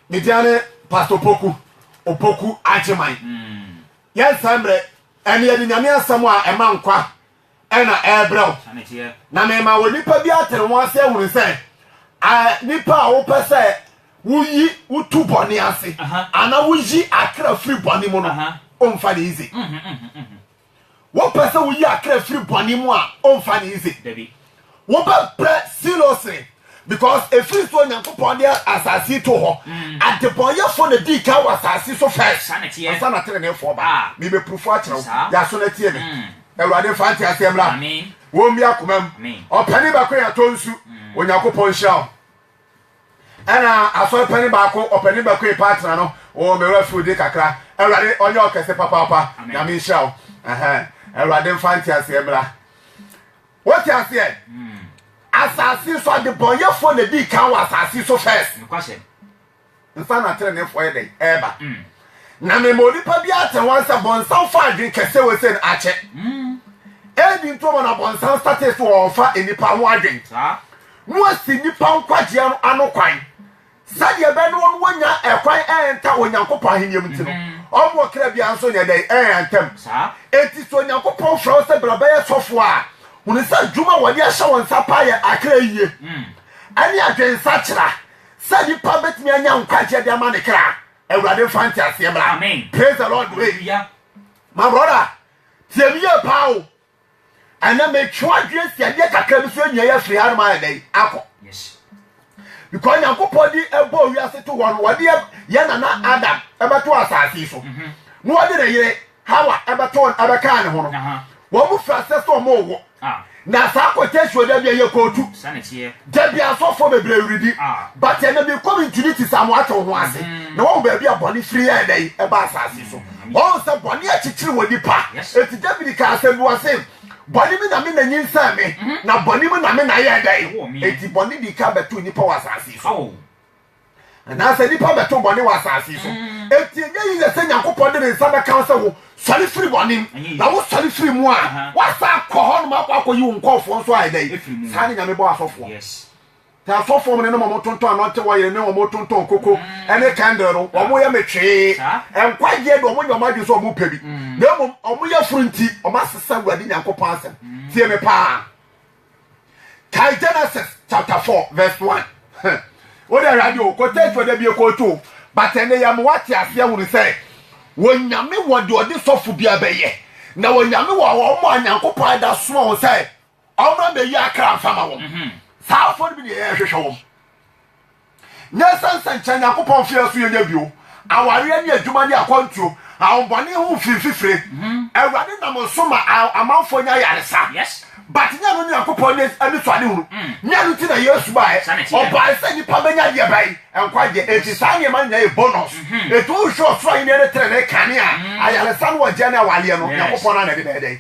Me dia ne Pastor Opoku, Opoku Agyeman. Yɛn saa mmerɛ ɛne yɛde nyame asɛm a ɛma nkwa ɛna ɛrebrɛ wo. Na mema wɔ nipa bi atene wɔn ase ahunu sɛ nipa a wopɛ sɛ woyi wotu bɔne ase anaa woyi akra firi bɔne mu no, ɔmfa ne izi. Wopɛ sɛ woyi akra firi bɔne mu a, ɔmfa no easy. Wobɛbrɛ seriously because ɛfiri sɛ Onyankopɔn de asase yi to hɔ. Mm. Adebɔnyɛfoɔ na dii kan wɔ asase so first. Ansa na teneneefoɔ ba. Ah. Mebɛpurufo akyerɛ wo. Yɛaso no atie me. Mm. Awurade mfa nte aseɛ mmra. Wɔmmi akomam. Ɔpani baako yɛ atɔ nsu. Mm. Onyankopɔn nhyira wo. Ɛna asɔre panin baako ɔpanin bɛkoe paa tena no wɔ me werɛ firi de kakra awurade ɔnyɛ ɔkɛse papaapa nyame nhyira wo awurade mfa nteaseɛ mmra wote aseɛ hmm. asase so adebɔnyɛfoɔ na dii kan wɔ asase so first nsa na atreneefoɔ yɛ dɛn ɛreba, na mema onipa bi ate wɔn sɛ bɔnsam fa adwene kɛseɛ wɔ sɛ no akyɛ. Edi nti ɔma na bɔnsam statee so ɔrefa nnipa ho adwene na wasi nnipa nkwagyeɛ no ano kwan sɛdeɛ ɛbɛyɛ na wɔn wɔnya ɛkwan ɛnta Onyankopɔn ahenniɛ mu nti no ɔma ɔkra biara nso nyɛ dɛn ɛntam. Enti sɛ Onyankopɔn frɛ wo sɛ bra bɛyɛ sɔfoɔ a, hunu sɛ adwuma a wɔde ahyɛ wo nsa paa yɛ akra yie ɛne adwensakyera Sɛ nnipa bɛtumi anya nkwagyeɛ de ama ne kra awurade mfa nteaseɛ mmra Amen. praise the lord wei Hallelujah. my brother tie me yie paa o ɛnɛ metwe adwene si adeɛ kakra bi so ɛnyia yɛ afiri hanom ayɛ dɛn akɔ Yes. because nyankopɔn de ɛbɔ wiase to hɔ no wɔde yɛ- yɛ nana adam ɛbɛto asase yi so na wɔde ne yere Hawa bɛto wɔn abɛkaa ne ho no, wɔn fira sɛ sɛ wɔn rewo. Na saa quotation da bia yɛ kootu. Da bia asɔfoɔ bebree redi. But ɛnna mi kɔ mi ntini ti saa mo ate ho ase. Na wɔn baabi a bɔne firi yɛ ɛnna yi ɛba asaase so. Wɔn sɛ bɔne akyekyere wɔ nipa. Eti David kaa asɛm bi wɔ se, bɔne mi na me na nyinsɛn me, na bɔne mu na me na yɛ ɛdɛn. Eti bɔne di kan bɛto nipa wɔ asaase so. Anaasɛ nnipa bɛto bɔne wɔ asase yi so. Mm. Enti ɛnyɛ yiyɛ sɛ Nyankopɔn de ne nsa bɛka wo sɛ wo sɔre firi bɔne mu. Na wo sɔre firi mu a, woasa akɔ hɔ nom akɔ akɔyi wo nkɔɔfoɔ nso ayɛ dɛn? Saa ne Nyame bɔ asɔfoɔ. Nti asɔfoɔ mo ne nom ɔmo tontɔn anɔnte wɔ yere ne ɔmo tontɔn koko mm. ɛne kɛndere no, ɔmo yɛ metwee. Nkwagyeɛ de ɔmo nyɛ ɔmo adwene sɛ ɔmo pɛ bi. Mm. Na mmom ɔmo yɛ furu nti, ɔmo asesa Awurade Nyankopɔn asɛm. Mm. Tie me paa. Kae Genesis chapter four verse one. O de awurade o, kɔtɛ tu ɔda bi ekɔɔtu o, but ɛnɛ yɛ mo wate aseɛ hunu sɛ wɔnyame wɔ deɛ ɔde sɔfo bi abɛyɛ na wɔnyame wɔ wɔn a nyankopɔn ada soma wɔn sɛ ɔmmra mbɛyi akra mfama wɔn. Mhm. Saa afɔ no bi na yɛhwehwɛ wɔn. Nyansa nsɛnkyerɛ Nyankopɔn mfe aso yɛnyɛ bio, awareɛ ne adwuma ne akwantuo, ahombɔne ho mfiri fifire. Mhm. Awurade nam nso ma amanfoɔ nya ayaresa. Yes. But nyɛ no Nyankopɔn ne anisoade hunu. Mm. Nyɛ no nti na Yesu baɛ. Ɔbaɛ sɛ nipa bɛnya deɛ bɛn? Nkwagyeɛ. Enti saa nneɛma no nyinaa yɛ bonus. Mhm. Enti wohwɛ ɔsoro ahenniɛ ne tenenee kane a, mm. ayaresa ne ɔgyeɛ ne awaleɛ no, Nyankopɔn no na ɛde bɛyɛ dɛn?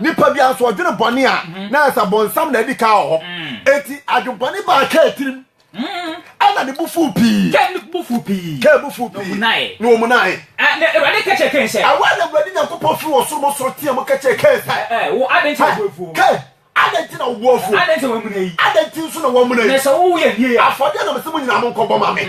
Nipa biara nso ɔdwene bɔne a na ayɛ sɛ bɔnsam na adi kan wɔ hɔ. Enti adwempɔne baa Kain tirim. Ɛna ne bo fuw pii. Kain ne bo fuw pii. Kain bo fuw pii. Na omunae. Na Awurade ka kyerɛɛ Kain sɛ. Ɛhɔ na Awurade Nyankopɔn firi ɔsoro mu soro teɛm ka kyerɛɛ Kain sɛ. Wo, adɛn nti na wo bo afuo? Kain, adɛn nti na wo bo afuo? Adɛn nti na woamuna yi? Adɛn nti nso na woamuna yi? Na sɛ wo yɛ nie a. Afɔdeɛ na mese mo nyinaa monkɔbɔ ma me.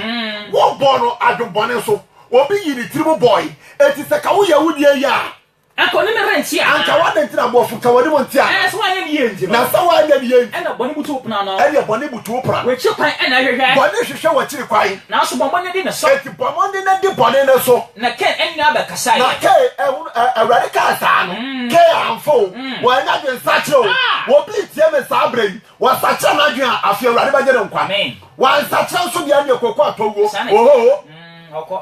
Wobɔɔ no adwempɔne nso. Obi yii ne tirim bɔe. Enti sɛ ka woyɛ wo deɛ yɛ a, Anka ɔne me rente anaa? Anka w'adɛn nti na bɔfo ka w'anim nte anaa? Ɛɛ sɛ woanyɛ ne yie nti no. Na sɛ woanyɛ ne yie nti. Ɛnna bɔne butu wo pono ano. Ɛnneɛ bɔne butu wo pono ano. W'akyiri kwan na ɛhwehwɛ. Bɔne hwehwɛ w'akyiri kwan. Nanso bɔ mmɔden di ne so. Enti bɔ mmɔden na di bɔne no so. Na Kain nua bɛkasaeɛ. Na Kain, ɛhunu, ɛ, Awurade kaa saa no, Kain amfa o, wannya adwensakyera o. Obi retie me saa berɛ yi, wasakyera n'adwene a, afei Awurade bɛgye no nkwa. Wansakyera nso deɛ, ɛnneɛ kɔkɔ atɔ wuo. Ohoo. Ɔkɔ.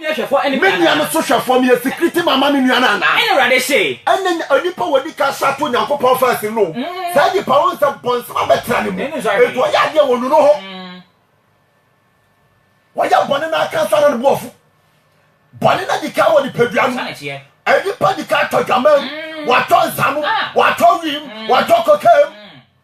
Me nua no so hwɛfoɔ, meyɛ sikiriti mama me nua no anaa? Ɛnna Awurade se. Ɛnna onipa a wɔdi kan hyɛ ato Onyankopɔn faa sini no, saa nipa no ɔhu sɛ bɔnsɛm abɛtra ne mu, enti ɔyɛ adeɛ a wɔnu no ho. Wɔyɛ bɔne no aka ansa na ne bo afu. Bɔne no adi kan wɔ nipadua no mu. Nnipa di kan tɔ dwaman mu, wɔatɔ nsa no, wɔatɔ wim, wɔatɔ kokaa mu.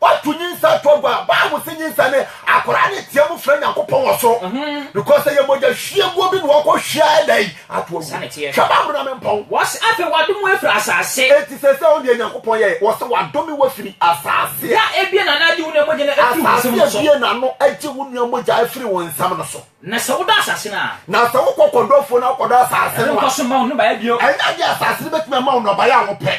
Woato nyinsɛn to agua a, Bible se nyinsɛn ne akwadaa no teɛ mu frɛ Nyankopɔn wɔ soro mhm. because ɛyɛ mogya hwieguo bi na wɔkɔ hwia ɛdɛn ato agu. Hwɛ Bible na mempɔn. Wɔse afei wadome wafiri asase. Enti sɛ sɛ ɔne Nyankopɔn yɛɛ, wɔse wadome wafiri asase. Da ebie na n'agye wo nua mogya no afiri wo nsam no so. Asase ebie na no agye wo nua mogya afiri wo nsam no so. Na sɛ wodɔ asase no a. Na sɛ wokɔ kɔdɔ afuo na wokɔdɔ asase no a. Ɛne nkɔso mma wo nnɔbaeɛ bio. Ɛnyɛ adeɛ asase no bɛtumi ama wo nnɔbaeɛ a wopɛ.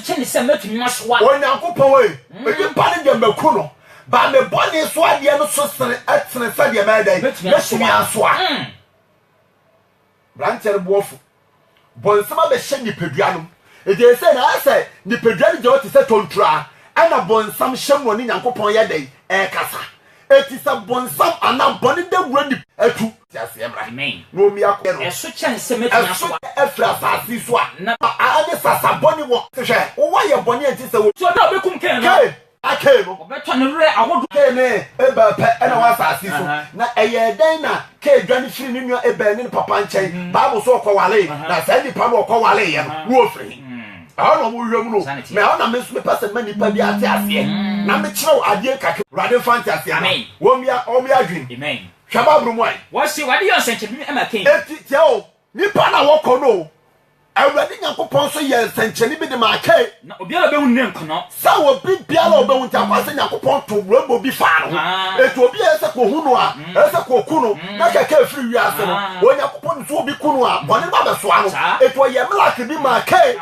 kyene sɛ mɛtumi masoa. Onyankopɔn ei, nnipa no deɛ maku no, but me bɔne so adeɛ no so tene sɛdeɛ mɛyɛ dɛn? Mɛtumi asoa. Branteɛ no boɔfo bɔ nsɛm abɛhyɛ nipadua nom, ɛgyɛɛ sɛ na ayɛ sɛ nipadua no gyina hɔ te sɛ tɔnturaa, ɛna bɔnsam hyɛ mu ɔne Nyankopɔn yɛ dɛn? Ɛɛkasa. Enti sɛ bonsam anaa bɔne dawura ni. Atu. Nteaseɛ mmra. Amen. Na ɔmmi akodeɛ no. Ɛso kyɛn sɛ mɛtumi asoa. Ɛso kyɛn afiri asase yi so a. Na. A ɛne sasa bɔne wɔ. Hwɛ, wowɔ ayɛ bɔne a ɛnte sɛ wo. So da a ɔbɛkum Kain no. Kain, na Kain no. Ɔbɛtɔ ne werɛ ahodoɔ. Kain ne Abel pɛ na ɛwɔ asase yi so. Na ɛyɛɛ dɛn na Kain dwane firii ne nua Abel ne ne papa nkyɛn? Bible so ɔkɔwaree. Na saa nnipa no a ɔkɔwareeɛ no, na wɔfiri he? ɛhɔ na ɔmo hwɛ mu no na ɛhɔ na me nso mepɛ sɛ mma nipa bi ate aseɛ mm. na mekyerɛw adeɛ nkakra awurade mfa nte aseɛ ama wɔn bia wɔn bia adwene hwɛ baaburo mu ayi. wɔsi wade yɛ nsɛnkyerɛnne ɛma kɛn. eti tiɛ o nipa na wɔkɔ no awurade nyankopɔn nso yɛ nsɛnkyerɛnne bi de ma kɛn. na obiara bɛhu ne nkɔnɔ. Sɛ obi biara a obehu nti akɔ asɛ Nyankopɔn to brɛbɔ bi faa no ho. Enti obi a ɛyɛ sɛ kohu no a, ɛyɛ sɛ koku no na kɛkɛ afiri wiase no. Onyankopɔn nim sɛ obi ku no a, bɔne no abɛsoa no. Enti ɔyɛɛ Malaki bi maa Kain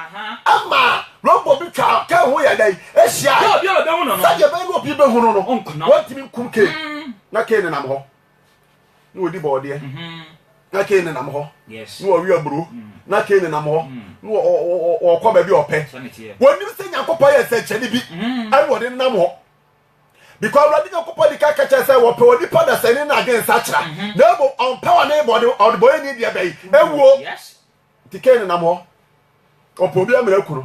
ma brɛbɔ bi twaa Kain ho yɛɛ dɛn? Ehyiae. Sɛdeɛ ɛbɛyɛ na obi behu no no, wɔntumi nkum Kain. Na Kain nenam hɔ. na wɔdi bɔɔdeɛ mm-hmm. na kei nenam hɔ na wɔwe aburo mm. na kei nenam hɔ mm. na wɔkɔ baabi ɔpɛ wɔnim sɛ nyankopɔn yɛ sɛnkyɛne bi mm-hmm. ɛne wɔde nenam hɔ because awurade nyankopɔn de ka kakyɛ sɛ wɔpɛ wɔ nipa dasani no ade nsakyera mm-hmm. na mmom ɔmpɛ wɔ ne bɔde ɔdebɔyɛ ni deɛ bɛyi ɛwuo Nti Kain nenam hɔ, ɔpɛ obi amena kunu.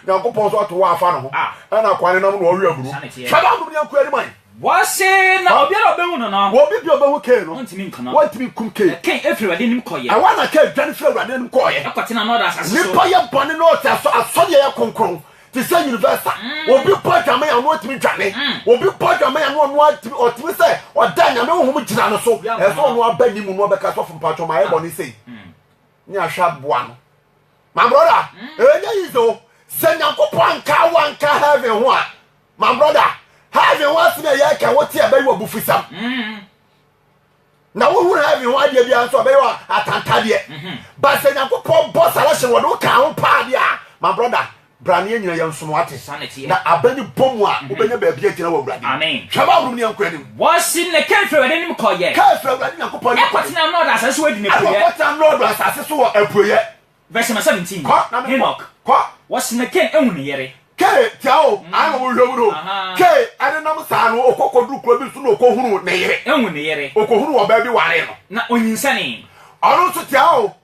Nyankopɔn nso ato hɔ afa ne ho, ɛna kwa nenam no ɔwe aburo. Hwɛ na anom ne anku anim ayi. Wɔse na obiara a ɔbɛhu no no. Obi bi a ɔbɛhu Kain no. Ɔntumi nku no. Ɔntumi nkum Kain. Na Kain firi Awurade anim kɔeɛ. Ɛhɔ na Kain dwane firi Awurade anim kɔeɛ. Kɔtenaa Nod asase so. Nnipa yɛ bɔne na ɔte asɔdeɛ yɛ kronkron. te sɛ universal obi bɔ adwaman a ɔno atumi dwane obi bɔ adwaman a no ɔno atumi ɔtumi sɛ ɔda nyame honhom gyina no so ɛsɛ ɔno aba ne mu no ɔbɛka sɔfo mpatsɔ ma ayɛ bɔ ne sei ne ahwɛ aboa no my brother ɛnyɛ yize o sɛ nyankopɔn anka wanka heaven ho a my brother heaven ho asɛm a yɛka wote ɛbɛyɛ wɔ abufusɛm na wohu heaven ho adeɛ biara nso a bɛyɛ atantadeɛ mhm. ba sɛ nyankopɔn bɔ selection wɔde wo kaa ho paa deɛ a ma brɔda bra ne yɛnyina yɛ nsom ate na abɛne bɔ mu a mhm. wobɛnya baabi agyina wɔ awurade hwɛ ma worom ne yɛnkɔ anim wɔsi ne ka firi awurade nim kɔyɛ ka firi awurade nyankopɔn nim kɔyɛ ɛkɔtena nɔɔdo asase so wɔ adi ne puiɛ ɛkɔtena nɔɔdo asase so wɔ apuiɛ Verse number seventeen, Kɔ na me Henoch, kɔ. Wɔsena Cain ehu ne yere. Cain tia o, mm. ano wo hwɛm no. Cain ɛne nam saa no ɔkɔ kɔduru kuro bi so na ɔkɔ hunu ne yere. Ehu ne yere. Ɔkɔ hunu wɔ baabi ware no. Na onyinsɛnee. Ɔno nso tia o,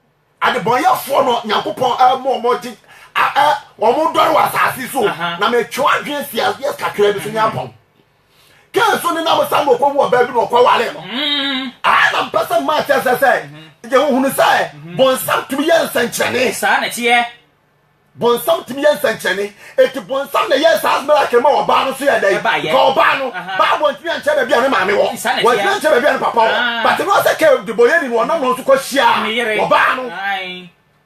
adebɔnyɛfoɔ no Nyankopɔn ɛmu ɔmo gye ɛ ɔmo dɔre wɔ asaase so na metwe adwene si aseɛ kakra bi so ne apɔn. kaa so nenam saa na ɔkɔhu ɔbaa bi na ɔkɔware no. Aha na mpɛ sɛ mmaa kyerɛ sɛ sɛ yɛhunu sɛ bonsam tumi yɛ nsɛnkyerɛnne. Saa na ɛteɛ. Bonsam tumi yɛ nsɛnkyerɛnne. Eti bonsam na ɛyɛ saa miracle ma ɔbaa no so yɛ dɛ. Ka ɔbaa no, Bible ntumi ankyerɛ baabi a ne maame wɔ. Wɔntumi ankyerɛ baabi a ne papa wɔ. But no sɛ kɛ debɔyɛni no ɔnam no so kɔhyia ɔbaa no.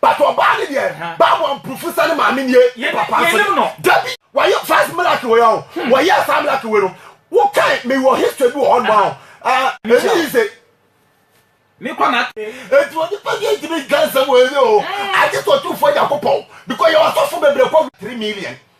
but ɔbaa no deɛ bible amprofo sɛ ne maame nie ne papa nso deɛ dabi wɔyɛ first miracle wei ɔho hmm. wɔyɛ saa miracle wei no wokae mewɔ history bi wɔ hɔ noma ɔho ɛni yi sɛ eti onipa bi ntumi dwa nsɛm wɔ ɛni o agye sɛ ɔtumfoɔ nyankopɔn because yɛ ɔsɔfo bebree kɔ three million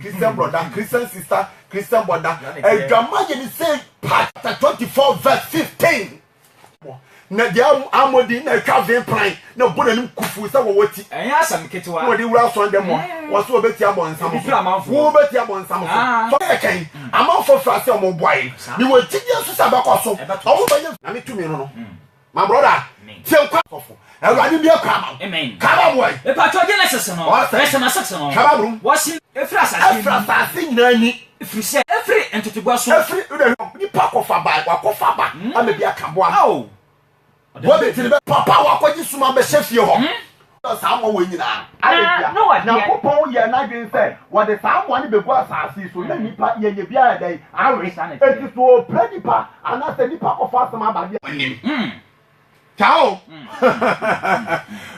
Christian brother, Christian sister, Christian brother. Adwama yɛ ne sɛ chapter twenty four verse fifteen. Na deɛ amodi na atwa vin plan na bɔ n'anim kufu sɛ wɔwɔ ti. Ɛnyɛ asɛm ketewa. Na wɔde wura asɔn dɛm a mm. wɔso wɔbɛti abɔ nsam so. Wɔbɛti abɔ nsam so. Ah. So yɛ kɛn mm. amanfoɔ fira sɛ wɔn boae. Mewɔ gyidie nso sɛ ɛbɛkɔ so. Wɔn bɛyɛ. Nyame tumi no no. Mm. My brother, tie nkwa kɔfo. Awurade bie kwan ma wo. Kaba boa yi. Epatwɔ Genesis no. Verse number six no. Kaba brum. Wɔsi efiri asase ni. Efiri asase nyinaa ni. Efiri sɛ efiri ntotoboa so. Efiri o de nipa akɔfa ba wakɔfa ba ama bi aka boa. Awo. Boa bi ti ni bɛ. Papa wakɔgye suma bɛhyɛ fie hɔ. dɔ saa mmoa wei nyinaa. Adɛn ntia? Nyankopɔn yɛɛ n'adwene sɛ wɔde saa mmoa no bɛgu asase yi so na nnipa yɛnyɛ biara a ɛdɛn? Awe. Enti so ɔpira nnipa anaa sɛ nnipa kɔfa asɛm aba deɛ? Ɔnim. Taa o.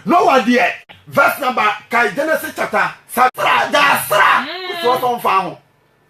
Noah deɛ. Verse number, kae Genesis chapter. Sra, gyaa sra. Wo sra sɛ ɔmfaa ho.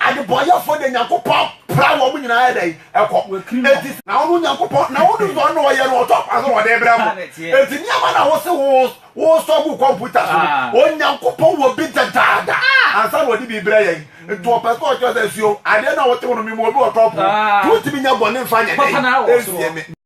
Adebɔyɛfoɔ deɛ Nyankopɔn pra wɔn nyinaa yɛ dɛn? Ɛkɔ. Enti. Na wono Nyankopɔn, na wonim deɛ ɔno ɔyɛ no, ɔtɔ kwan so na ɔde brɛ mo. Enti nneɛma na wose wo wosɔ gu kɔmputa so no, Onyankopɔn wɔ bi dedaada ansa na ɔde bi brɛ yɛn. Enti ɔpɛ sɛ ɔkyerɛ sɛ, sio, adeɛ no a wote wo no, mema obi wɔ tɔpo, nti wontumi nyɛ bɔne mfa nyɛ dɛn? Nsie me.